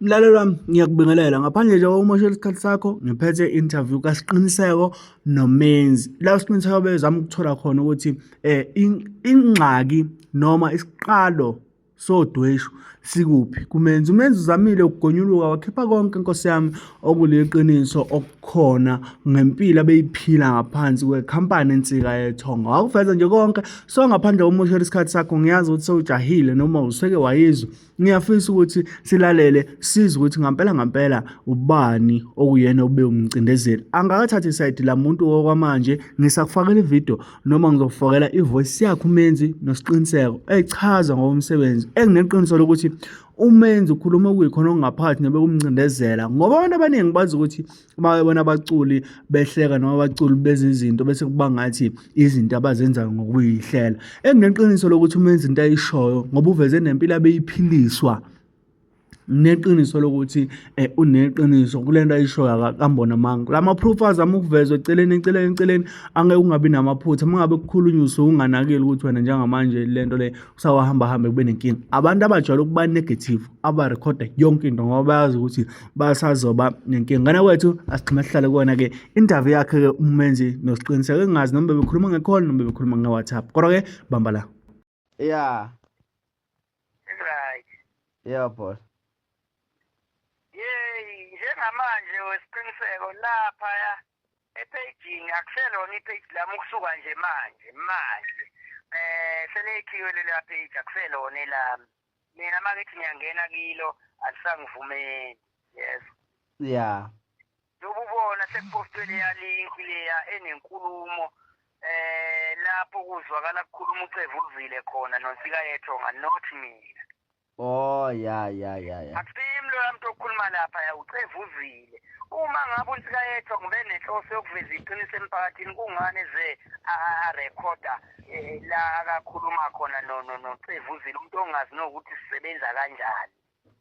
Mlaleli wami ngiyakubingelela ngaphandle nje kokumoshela isikhathi sakho ngiphethe interview kaSiqiniseko noMenzi la uSiqiniseko bezama ukuthola khona ukuthi eh ingxaki noma isiqalo sodweshu sikuphi kumenzi umenzi uzamile ukugonyuluka wakhipha konke inkosi yami okuliqiniso okukhona ngempilo abeyiphila ngaphansi kwekhampani insika yethonga wakuveza nje konke so ngaphandle komoshela isikhathi sakho ngiyazi ukuthi sewujahile noma useke wayizwa Ngiyafisa ukuthi silalele size ukuthi ngampela ngampela ubani okuyena ube umcindezeli. Angakathathi isayidi lamuntu okwamanje ngisakufakela ivideo noma ngizokufakela ivoice yakhe umenzi nosiqiniseko echaza ngokomsebenzi engineqiniso lokuthi umenzi ukhuluma okuyikhona okungaphathi nebe kumcindezela ngoba abantu abaningi bazi ukuthi uma bebona abaculi behleka noma abaculi beze izinto bese kuba ngathi izinto abazenzayo ngokuyihlela engineqiniso lokuthi uma enza into ayishoyo ngoba uveze nempilo abeyiphiliswa neqiniso lokuthi eh, uneqiniso kule nto ayishoyo akambona amanga la ma-proof azama ukuvezwa eceleni eceleni eceleni angeke ungabi namaphutha uma ngabe kukhulunywa usuke unganakile ukuthi wena njengamanje le nto le usawahamba hambe kube nenkinga abantu abajwayele ukuba negative abarekhoda yonke into ngoba bayazi ukuthi basazoba nenkinga ngane kwethu asigxime sihlale kuwona-ke interview yakhe-ke umenzi nosiqiniseko engazi noma bebekhuluma ngekhona noma bebekhuluma nge-whatsapp kodwa-ke bamba la ya right ya boss yeyi njengamanje wesiqiniseko laphaya ephejini akuselona ipheji lami ukusuka nje manje manje um seleyikhiwe lelapheji akuselona elami mina makethi ngiyangena kilo alisangivumeli yes ya yobubona sekupostwe leya link leya enenkulumo eh lapho kuzwakala kukhuluma ucevu uluvile khona nonsika yethonga not mina oh ya ya ya ya akusimlo loya muntu okhuluma lapha ya ucevu uzile uma ngabe unsika yethonga ubenenhloso yokuveza iqiniso emphakathini kungani ze a recorder eh, la akakhuluma khona no no no Cevuzile umuntu ongazi nokuthi sisebenza kanjani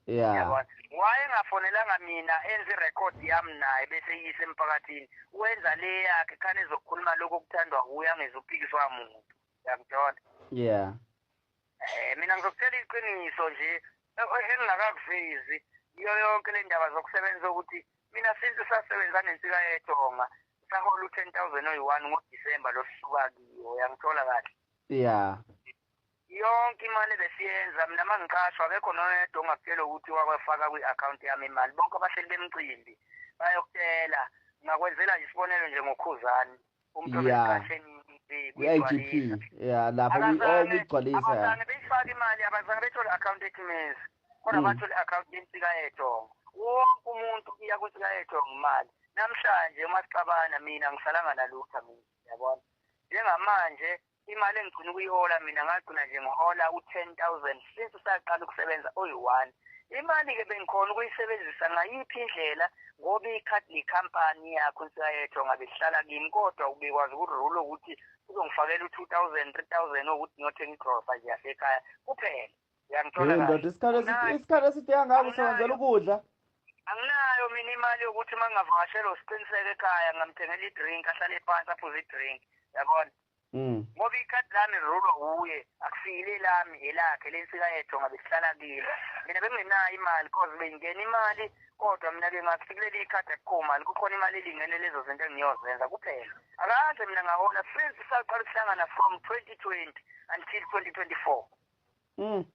yeah wayengafonelanga mina enze record yami naye bese yise emphakathini wenza le yakhe khane ezokhuluma lokho kuthandwa huya ngezophikiswa muntu yakuthola yeah Eh mina ngizokutshela iqiniso nje engingakakuvezi iyo yonke le ndaba zokusebenza ukuthi mina since sasebenza nensika yeTonga sahola u-10000 oyi-1 ngoDisemba losuka kiyo yangithola kahle yeah yonke imali besiyenza mina uma ngiqashwa akekho noyedwa ongakutshela ukuthi wakwefaka kwi-akhawunti yami imali bonke abahleli bemcimbi bayokutela ngakwenzela isibonelo nje ngokhuzani Yeah. Kwi-IGP. Yeah, lapho kwi- oh, kuyigcwalisa. abazange beyifake imali abazange bethole account ekhimezi kodwa Mm. bathole account yensika yedongo wonke umuntu iya kwinsika yedongo imali namhlanje uma sixabana mina ngisalanga nalutha mina yabona njengamanje Imali engigcina ukuyihola mina ngagcina nje ngihola u-ten thousand since saqala ukusebenza oyi-one imali-ke bengikhona ukuyisebenzisa ngayiphi indlela ngoba ikhadi likhampani yakho nsiyayetho ngabe sihlala kimi kodwa ubekwazi ukurule ukuthi uzongifakela u-two thousand three thousand okuthi ngiyothenga igrosa nje yasekhaya kuphela Yangithola Hey kahle. ndoda isikhathi esi- Anginayo- isikhathi eside kangaka usebenzela ukudla. Anginayo mina imali yokuthi uma ngingavakashelwa usiqiniseko ekhaya ngamthengela i-drink ahlale phansi aphuze i-drink. Yabona? Mm. Ngoba ikhadi lami lirulwa wuye, akusile elami, elakhe lensika yethu ngabe sihlala kilo. Mina bengingenayo imali cause bengingena imali kodwa mina ke ngathi kuleli ikhadi akukho mali kukhona imali elingene lezo zinto engiyozenza kuphela. Akaze mina ngahola since saqala ukuhlangana from 2020 until 2024. Mm.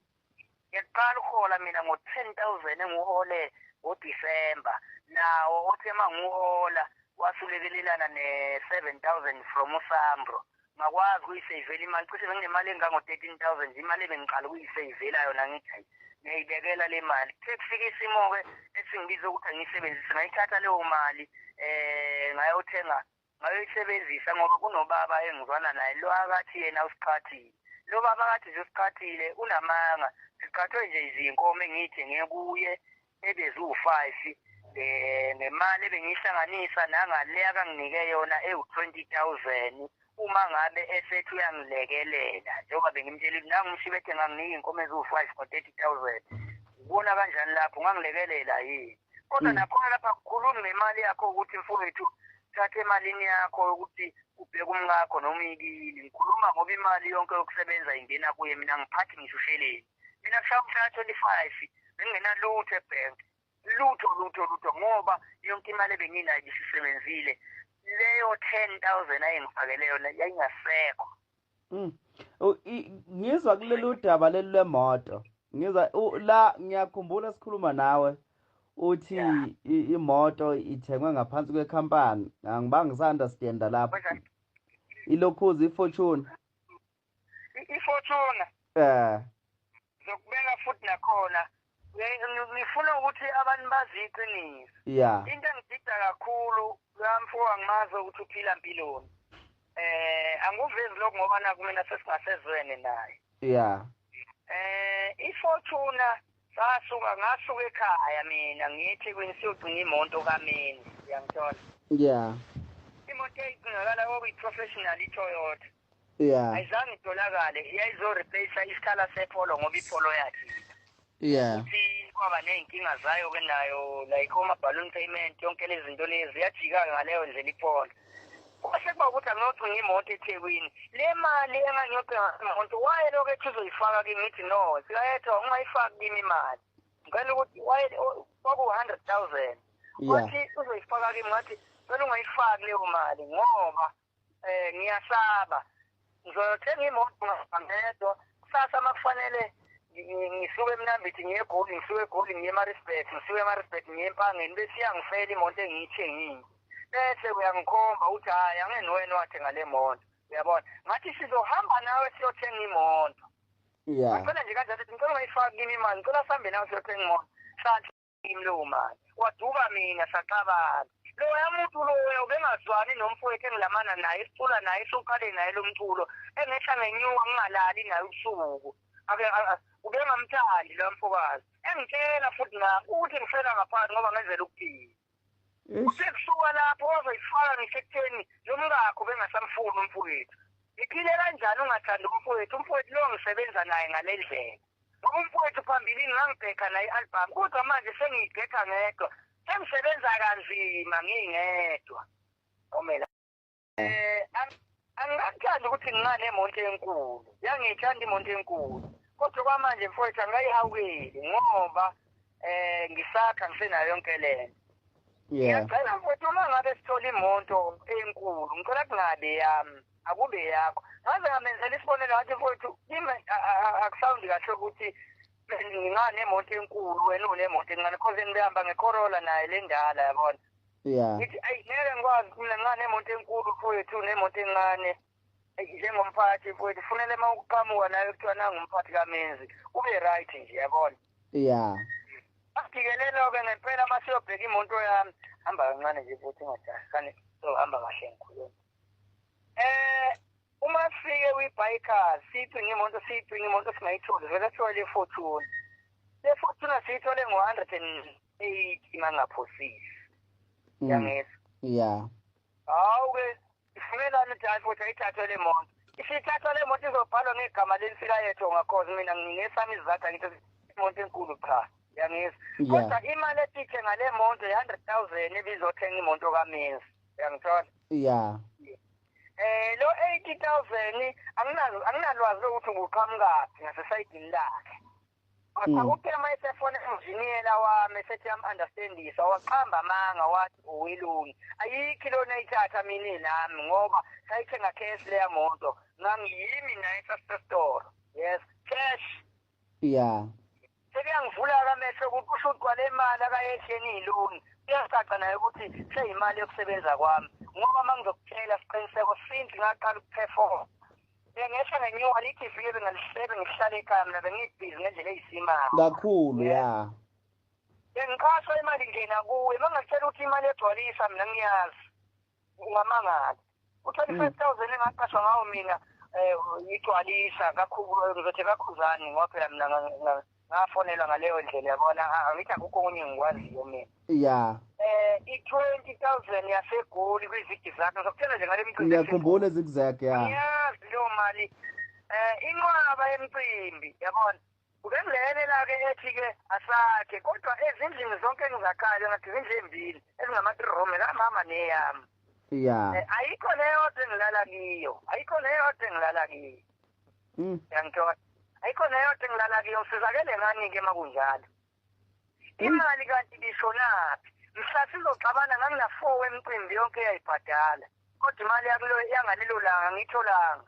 Ngiyaqala uhola mina ngo 10000 enguhole ngo December nawo othe manguhola wasulekelelana ne 7000 from uSambro ngakwazi ukuyiseyivela imali cishe benginemali engango 13000 imali ebengiqala ukuyiseyivela yona ngithi ngiyayibekela le mali kuthe kufika isimo-ke esingibiza ukuthi angiyisebenzise ngayithatha leyo mali um ngayothenga Ngayoyisebenzisa ngoba kunobaba engizwana naye lo akathi yena usiqhathile. Lo baba akathi nje usiqhathile unamanga. Siqhathwe nje izinkomo engiyithenge kuye ebeziwu-five eh, ngemali ebengiyihlanganisa nangale akanginike yona ewu-twenty thousand uma ngabe esethi uyangilekelela njengoba bengimtshela ukuthi nangu umshibe ethe nganginika iy'nkomo eziwu-five ngo-thirty thousand ubona kanjani lapho ungangilekelela yini kodwa mm. nakhona lapha kukhulumi ngemali yakho ukuthi mfowethu thatha emalini yakho ukuthi ubheke umkakho noma uyikili ngikhuluma ngoba imali yonke yokusebenza ingena kuye mina ngiphathi ngisho usheleni mina kushaya umshaya twenty five bengingenalutho ebhenki lutho lutho lutho ngoba yonke imali ebenginayo isisebenzile leyo ten thousand ayengifakele yona yayingasekho Mm. Ngizwa kuleli udaba leli lwemoto. Ngizwa la ngiyakhumbula sikhuluma nawe uthi imoto ithengwe ngaphansi kwekhampani. Angibanga ngisunderstand lapho. Ilokhuzi iFortune. IFortune. Eh. ngizokubeka futhi nakhona ngifuna ukuthi abantu bazi iqiniso yeah into engidida kakhulu kamfoka ngimazi ukuthi uphila mpiloni eh anguvezi lokho ngoba nakumina sesingasezwene naye yeah eh ifortuna sasuka ngasuka ekhaya mina ngithi kwini siyogcina imoto kamini uyangithola yeah imoto eyigcinakala okuyi-professional i-toyota yeah ayizange itholakale iyayizo replace isikhala sepholo ngoba ipholo yakhe yeah ukuthi kwaba nezinkinga zayo ke nayo like oma balloon payment yonke lezi zinto lezi yajika ngaleyo ndlela ipholo kwase kuba ukuthi angiyothenga imoto ethekwini le mali engangiyothenga imoto waye lokho ethi uzoyifaka kimi ngithi no sikayetho ungayifaki kimi imali ngicela ukuthi waye kwaku-hundred thousand wathi uzoyifaka kimi ngathi cela ungayifaki leyo mali ngoba Eh ngiyasaba. Ngizothenga imoto ngedwa. Kusasa makufanele ngisuke emnambithi ngiye egoli ngisuke egoli ngiye emarisbet ngisuke emarisbet ngiye empangeni bese iyangifela imoto engiyithengile bese uyangikhomba ukuthi hhayi angeni wena wathenga le moto uyabona ngathi sizohamba nawe siyothenga imoto ngicela nje kanjalo ngicela ungayifaki kimi imali ngicela sihambe nawe siyothenga imoto lowo mali waduka mina saxabana loya muntu loya ubengazwani nomfowethu engilamana naye sicula naye soqale naye lo mculo engehla ngenyuka ngingalali naye ubusuku ake ubengamthandi lo mfokazi engitshela futhi na ukuthi ngifela ngaphansi ngoba ngenzela ukuphila usekusuka lapho wazoyifaka ngisekutheni lo mkakho bengasamfuni umfowethu ngiphile kanjani ungathandi umfowethu umfowethu lo ngisebenza naye ngale ndlela Ngoba umfowethu phambilini ngangibhekha naye i-albhamu kodwa manje sengiyibhekha ngedwa. Sengisebenza kanzima ngingedwa. Komela. Um angikakuthandi ukuthi ngiba nemonto enkulu yangiyithanda imonto enkulu kodwa kwamanje mfowethu angikayihawukeli ngoba um ngisakha ngisenayo yonke le nto ngiyacela mfowethu uma ngabe sithola imonto enkulu ngicela kungabe yami akube yakho ngaze ngamenzela isibonelo ngathi mfowethu kimi akusawundi kahle ukuthi nginganemoto enkulu wena unemoto encane cause ngibehamba ngecorolla naye le ndala yabona ya ngithi ayi ngeke ngikwazi mina nginganemoto enkulu mfowethu nemoto encane njengomphathi mfowethu funele uma ukuqhamuka nayo kuthiwa nangumphathi kamenzi ube right nje yabona ya agikelelo-ke ngempela uma siyobheka imoto yami hamba kancane nje futhi ingadasane so hamba kahle ngikhuluma Eh uma sifike kwi-biker siyidinga imoto siyidinga imoto singayitholi vele sithole i-fortune le fortune siyithole ngo-hundred and eighty uma ngingaphosisi mm. yangizwa ya hawu-ke ifunelani ukuthi hayi futhi ayithathwe le moto isithathwa le moto izobhalwa ngegama lelisikayetho ngakhozi mina nginesami izizathu angithi imoto enkulu cha yangizwa kodwa imali etithe ngale moto i-hundred thousand ebizothenga imoto kamenzi uyangithola ya eh lo 80000 anginazo anginalwazi lokuthi nguqhamukaphi ngasesayidini lakhe kodwa mm. uthe uma esefona enjiniyela wami esethi am-understandisa waqamba amanga wathi uwilungi ayikhi lona ithatha mina nami ngoba sayithenga cash leya moto ngangiyimi naye sasesitoro yes cash Yeah. Sekuyangivula akamehlo ukuthi kusho ukuthi kwale mali akayehleni iloni. Kuyacaca naye ukuthi seyimali yokusebenza kwami. Ngoba uma ngizokutshela siqiniseko since ngaqala ukuperform. Bengehla ngenyuka lithi vile bengalisebe ngihlale ekhaya mina bengibhizi ngendlela eyisimanga. Kakhulu yeah. Bengiqashwa imali ngena kuwe. Uma ngakutshela ukuthi imali egcwalisa mina ngiyazi. ungamangala u-twenty-five mm. thousand engaqashwa ngawo mina um igcwalisa ngizothe kakhuzani ngoba phela mina ngafonelwa ngaleyo ndlela yabona angithi akukho okunye engikwaziyo mina ya eh i-twenty thousand yasegoli kwizigi zakhe ngizokutshela nje ngale mcimbi ngiyakhumbula ezigizakhe ya ngiyazi leyo mali um inqwaba yemcimbi yabona Ubengilele la-ke ethi-ke asakhe kodwa ezindlini zonke engizakhayo ngathi izindlu ezimbili ezingama-three room ekamama neyami ya Eh, ayikho neyodwa engilala kiyo ayikho neyodwa engilala kiyo Mm. yangithola ayikho neyodwa engilala kiyo ngisizakele ngani-ke uma kunjalo imali kanti ibishonaphi mhla sizoxabana nganginafour wemcimbi yonke eyayibhadala kodwa imali yakulo yangalelo langa ngiyitholanga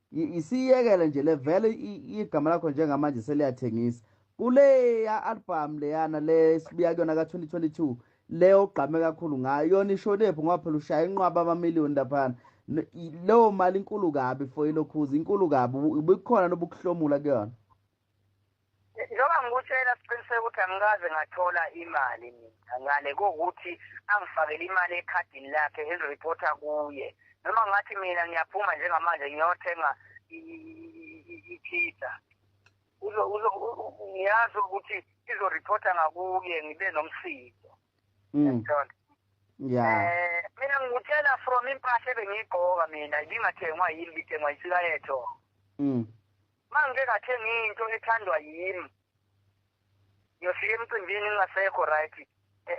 Isiyekele nje le vele igama lakho njengamanje seliyathengisa. Kuleya album leyana le sibuya kuyona ka 2022 leyo ogqame kakhulu ngayo yona ishonephi ngoba phela ushaya inqwaba ama million laphana. Leyo mali inkulu kabi for ilokhuzi inkulu kabi ubukhona nobukuhlomula kuyona. njengoba ngikutshela siqiniseka ukuthi angikaze ngathola imali mina ngale kokuthi angifakele imali ekhadini lakhe eziripotha kuye noma ngathi mina ngiyaphuma njengamanje ngiyothenga i-pizza ngiyazi ukuthi izoripotha ngakuye ngibe nomsindo mm. ya eh, mina ngikutshela from impahla ebengiyigqoka mina ibingathengwa yini bithengwa isikayeto mm. Uma ngike ngathenga into ethandwa yimi ngiyofika emcimbini ngingasekho right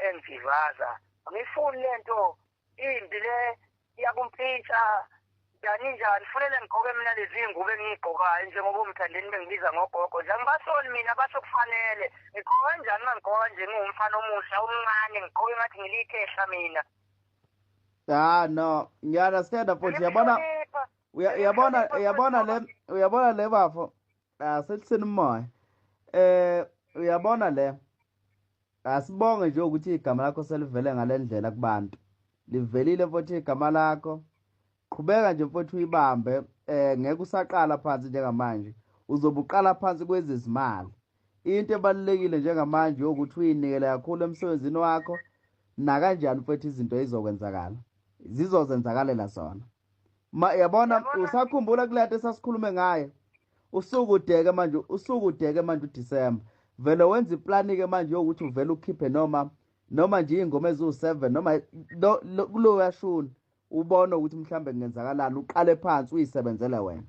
engivaza ngifuni lento imbi le iyakumpintsha njani njani funele ngigqoke mina lezi ngubo engiyigqokayo njengoba umthandeni bengibiza ngogogo nje angibasoli mina basho kufanele ngigqoka kanjani uma ngigqoka nje ngiwumfana omusha omncane ngigqoke ngathi ngilikhehla mina ya no ngiya-understanda futhi yabona Uya- uyabona uyabona le uyabona le bafo asithiseni umoya eh uyabona le asibonge nje ukuthi igama lakho selivele ngale ndlela kubantu livelile futhi igama lakho qhubeka nje futhi uyibambe eh ngeke usaqala phansi njengamanje uzobe uqala phansi kwezizimali into ebalulekile njengamanje ukuthi uyinikele kakhulu emsebenzini wakho nakanjani futhi izinto izokwenzakala zizozenzakalela zona yabona usakhumbula kulento esasikhulume ngayo usuku udeke manje usuku udeke manje uDecember vele wenza iplani ke manje yokuthi uvele ukhiphe noma noma nje ingoma eziwu7 noma kuloya shuni ubone ukuthi mhlambe kungenzakalani uqale phansi uyisebenzele wena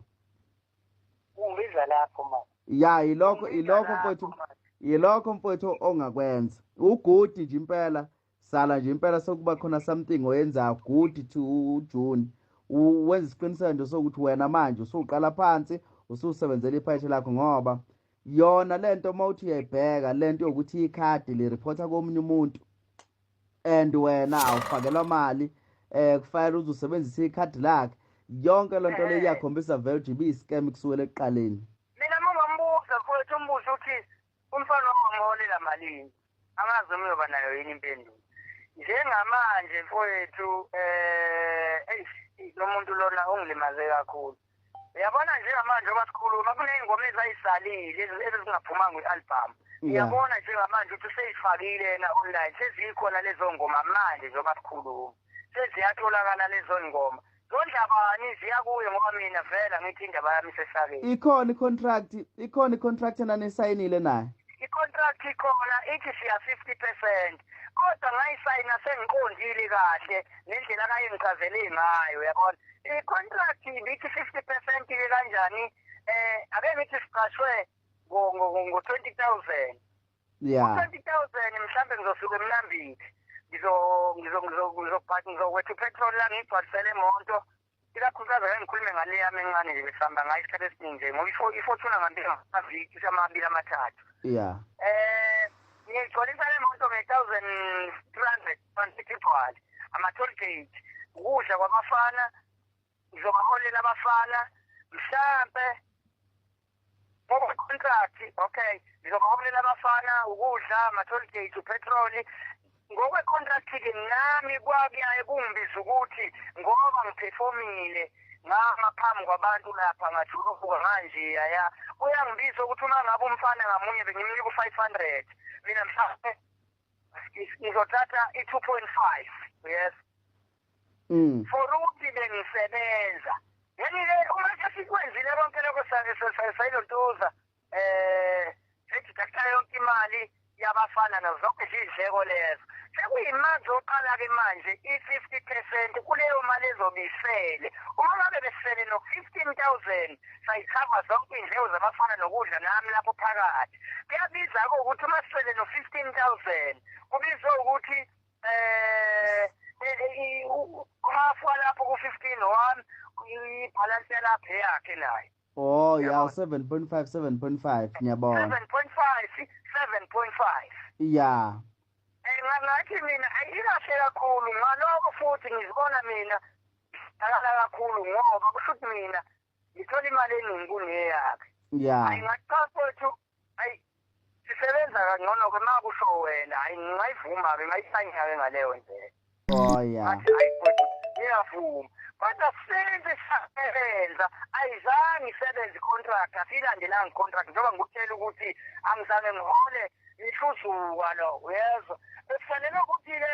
ungibiza lapho manje ya yilokho yilokho mfowethu yilokho mfowethu ongakwenza ugudi nje impela sala nje impela sokuba khona something oyenzayo good to ujuni wenza isiqiniseko nje sokuthi wena manje usuqala phansi ususebenzela iphayishe lakho ngoba yona le nto uma uthi uyayibheka le nto yokuthi ikhadi liriphotha komunye umuntu and wena awufakelwa mali um kufanele uze usebenzise ikhadi lakhe yonke loo nto le eh. iyakhombisa vele uthi ibiyi-scam kusuwele ekuqaleni mina mungambuza mfowethu umbuze ukuthi umfana wamholela malini angazi noma uyoba nayo yini impendulo njengamanje mfowethu eh eish lo muntu lona ungilimaze kakhulu uyabona njengamanje oba sikhuluma kuney'ngoma ezayisalile ezingaphumanga kwi-albhamu uyabona njengamanje ukuthi useyifakile yena online sezikhona lezo ngoma manje njengoba sikhuluma seziyatholakala lezo ngoma Zondaba niziya kuye ngoba mina vele angithi indaba yami isesakeni. Ikhona icontract, ikhona icontract enanisayinile naye. Icontract ikhona ithi siya 50%. Kodwa ngayisayina sengiqondile kahle nendlela akayengichazele ngayo yabona. Icontract ibithi 50% ke kanjani eh ake ngithi siqashwe ngo 20000. yeah. 20000 mhlambe ngizosuka emnambithi ngizowetha upetrol la ngigcwalisele imoto ikakhulukazi ake ngikhulume ngale yami encane nje besihamba ngayo isikhathi esiningi nje ngoba ifortuna ngambe amaviki amabili amathathu yeah eh ngigcwalisa le moto nge-thousand three hundred rand igcwale ama-toll gate ukudla kwabafana ngizobaholela abafana mhlampe contract okay ngizobaholela abafana ukudla ama-toll gate upetroli ngokwecontract-ke nami kwakuyaye kungibiza ukuthi ngoba ngiphefomile ngama phambi kwabantu lapha ngajuluka manje yaya kuyangibiza ukuthi uma ngabe umfana ngamunye bengimnika u-five hundred mina mhlawumbe ngizothatha i-two point five yes Mm. for ukuthi bengisebenza yeni-ke uma sesikwenzile konke lokho sayilontuza um eh, sejidakutha yonke imali yabafana nazo zonke izidleko lezo sekuyimanje oqala-ke manje i-fifty percent kuleyo mali ezobisele uma ngabe besele no-fifteen thousand sayikhava zonke iy'ndleko zabafana nokudla nami lapho phakathi kuyabiza-ke ukuthi uma sisele no-fifteen thousand kubizwe ukuthi eh, eh, eh half walapho ku 15 1 ibhalance yalapha yakhe naye Oh yeah 7.5 7.5 ngiyabona 7.5 7.5 yeah eh, ngathi mina ayikahle kakhulu ngaloko futhi ngizibona mina akala kakhulu ngoba kushuthi mina ngithola imali eningi kuneyakhe yeah ayingaqhathwa ukuthi ayi sisebenza kangcono ke ma kusho wena hayi ngingayivuma ke ngayisayina ke ngaleyo ndlela oh yeah athi hayi mfowethu ngiyavuma kodwa senze sasebenza ayizange isebenze icontract asiyilandelanga icontract njengoba ngikutshela ukuthi angizange ngihole ngihluzuka lo uyezwa bekufanele ukuthi-ke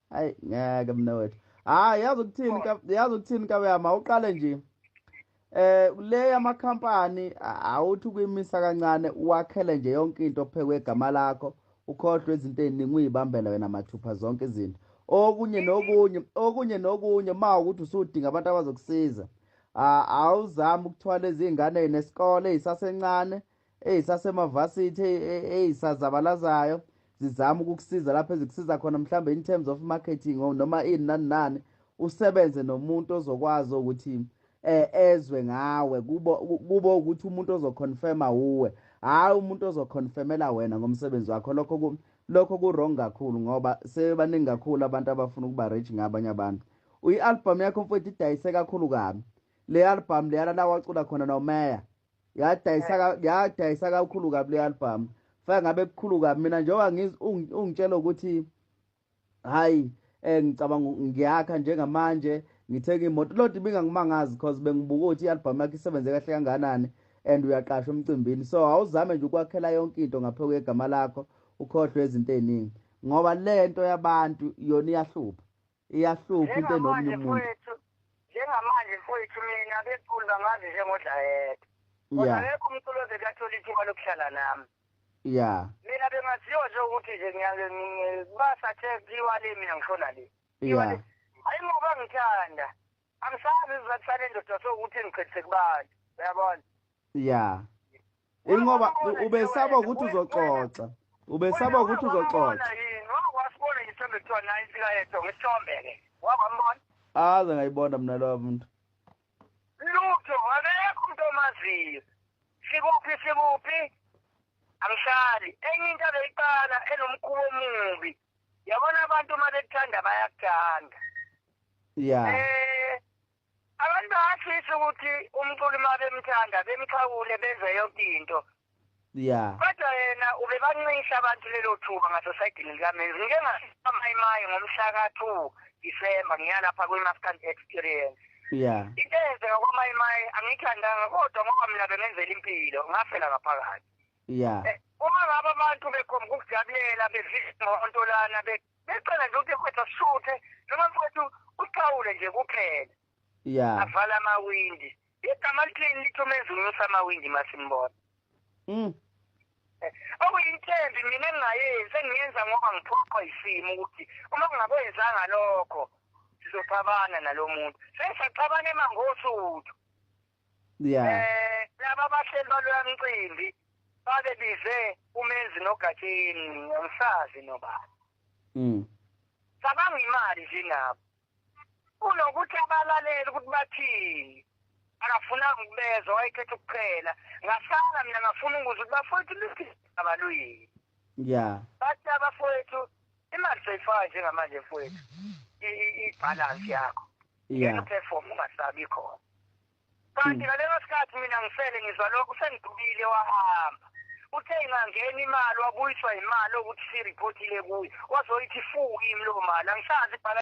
hayi ngeke mna wethu hayi yazi ukuthini yazi ukuthini kabeyama uqale nje eh le yamakhampani awuthi ukuyimisa kancane uwakhele nje yonke into phekwe igama lakho ukhohlwe izinto eziningi uyibambela wena mathupha zonke izinto okunye nokunye okunye nokunye ma ukuthi usudinga abantu abazokusiza awuzami ukuthwala izingane nesikole isasencane ezisasemavasithi e, e, ezisazabalazayo zizama ukukusiza lapho ezikusiza khona mhlawumbe in terms of marketing noma ini nani nani usebenze nomuntu ozokwazi ukuthi eh ezwe ngawe kubo kubo ukuthi umuntu ozoconfirma uwe hayi umuntu ozoconfirmela wena ngomsebenzi wakho lokho lokho kurong kakhulu ngoba sebaningi kakhulu abantu abafuna ukuba rich ngabanye abantu uyi-albhamu yakho mfowethu idayise kakhulu kabi le albhamu leyana la wacula khona nomeya yadayisa kakhulu kabi le album fake ngabe kukhulu kabi mina njengoba ungitshela ukuthi hhayi um ngicabanga ngiyakha njengamanje ngithenga imoto loo nto ibingangimangazi because bengibuka ukuthi i-albhamu yakho isebenze kahle kanganani and uyaqasha umcimbini so awuzame nje ukwakhela yonke into ngaphe kwegama lakho ukhohlwe izinto ey'ningi ngoba le nto yabantu yona iyahlupha iyahlupha into nomunye umuntu njengamanje mfowethu mina abeculi bangazi njengodlayede kodwa akekho umculi oze kathola ithuba lokuhlala nami ya mina bengaziwa nje ukuthi nje basathe kiwa le mina ngishona le ya hayi ngoba ngithanda angisazi isizathu sale ndoda sokuthi ngichithe kubani uyabona ya ingoba ubesaba ukuthi uzoxoxa ubesaba ukuthi uzoxoxa wasibona isithombe kuthiwa naye ifika yedwa ngesithombe-ke wabambona aze ngayibona mna lowa muntu lutho akekho umuntu omaziyo sikuphi sikuphi angihlali enye into abeyiqala enomkhuba omubi yabona abantu uma bekuthanda bayakuthanda ya eh abantu bayafisa ukuthi umculi uma bemthanda bemxhawule benze yonke into ya kodwa yena ubebancisha abantu lelo thuba ngasosayidini likamenzi ngike ngasamayimayi ngomhla ka-two december ngiya lapha kwi-mafcan experience ya into eyenzeka kwamayimayi angiyithandanga kodwa ngoba mina bengenzela impilo ngafela ngaphakathi ya eh, uma ngaba abantu bekhomba ukujabulela bevisa ngonto lana becela nje ukuthi kwethu asishuthe noma mfowethu uxawule nje kuphela ya avala amawindi igama lithini lithi umenzi unyusa amawindi masimbona mm eh, okuyinthembi mina engingayenzi engiyenza ngoba ngiphoqwa isimo ukuthi uma kungakwenzanga lokho sizoxabana nalo muntu sengisaxabana emangosuthu yeah eh laba bahleli baloya mcimbi babe bize umenzi nogatsheni ngisazi nobani mm cabanga imali nje nabo kunokuthi abalaleli ukuthi bathini akafunanga ukubezwa wayekhetha ukuqhela ngasala mina ngafuna ukuza ukuthi bafowethu lisaba luyini ya bathi abafowethu imali seyifaka njengamanje mfowethu ibhalansi yakho ngeke uperform ungasabi khona kanti hmm. ngaleso sikhathi mina ngifele ngizwa lokhu sengidubile wahamba uthe ingangena imali wabuyiswa imali okuthi siripotile kuye wazoyithi fu kimi loo mali angisazi ibhala